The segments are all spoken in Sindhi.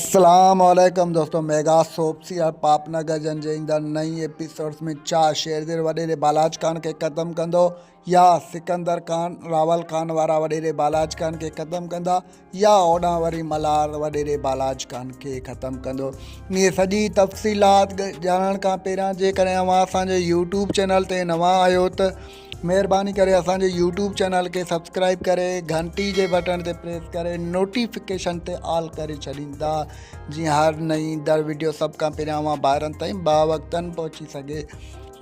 اسلام عليڪم دوستو ميگا سوپ سيريل پاپ نه گجن جي ايندڙ نئين ايپيسوڊز ۾ ڇا شيرزير وڏيري بالاچ خان کي ختم ڪندو يا سڪندر خان راول خان وارا وڏيري بالاچ خان کي ختم ڪندا يا اوڏان وري ملهار وڏيري بالاچ خان کي ختم ڪندو اهي سڄي تفصيلات ڄاڻڻ کان پهريان جيڪڏهن اوهان اسان جي يوٽيوب چينل تي نوان آهيو ته مهرباني ڪري اسان جي يوٽيوب چينل کي سبسڪرائب ڪري گهنٽي جي بٽڻ تي پريس ڪري نوٽيفڪيشن تي آل ڪري ڇڏيندا جيئن هر نئين در ويڊيو سڀ کان پهريان اوهان ڀائرن تائين با وقتاً پهچي سگهي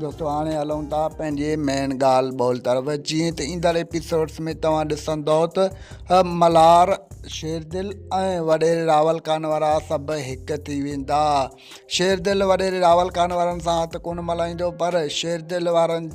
دوستو هاڻي هلون ٿا پنهنجي مين ڳالهه ٻول طرف جيئن ته ايندڙ ايپيسوڊس ۾ توهان ڏسندو ته ملهار شيردل ۽ وڏيري راول خان وارا سڀ هڪ ٿي ويندا شيردل وڏيري راول خان وارن سان هٿ ڪونه ملائيندو پر شيردل وارن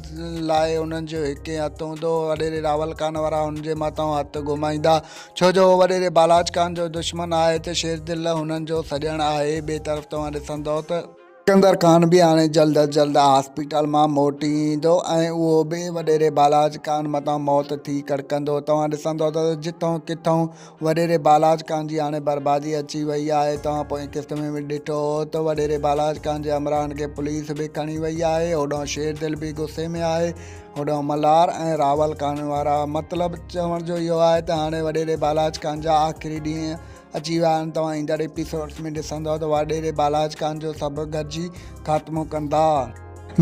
لاء انهن جو هڪ ئي هٿ هوندو وڏيري راول خان وارا هن جي مٿان هٿ گهمائيندا ڇو جو هو وڏيري بالاچ خان جو دشمن آهي ته شيردل هنن جو سڄڻ آهي ٻئي طرف توهان ڏسندئو ته سڪندر خان به هاڻي جلد از جلد هاسپيٽل مان موٽي ايندو ۽ اهو به وڏيري بالاچ خان مٿان موت ٿي ڪڙڪندو توهان ڏسندئو ته جتئون ڪٿئون وڏيري بالاچ خان جي هاڻي بربادي اچي وئي آهي، توهان پوئين قسط ۾ به ڏٺو هو ته وڏيري بالاچ خان جي همراهن کي پوليس به کڻي وئي آهي، هوڏانهن شير دل به غصي ۾ آهي، هوڏانهن ملهار ۽ راول خان وارا. مطلب چوڻ جو اهو آهي ته هاڻي وڏيري بالاچ خان جا آخري ڏينهن اچي ويا آهن، توهان ايندڙ ايپيسوڊز ۾ ڏسندؤ ته وڏيري بالاچ خان جو سڀ گڏجي خاتمو ڪندا.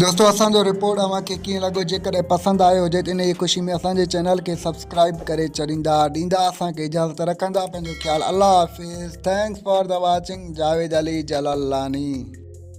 دوستو اسان جو رپورٽ اوهان کي ڪيئن لڳو جيڪڏهن پسند آيو هجي ته انهي خوشي ۾ اسان جي چينل کي سبسڪرائيب ڪري ڇڏيندا ڏيندا اسان کي اجازت رکندا پنهنجو خيال الله حافظ thanks for the watching Javed Ali Jalalani.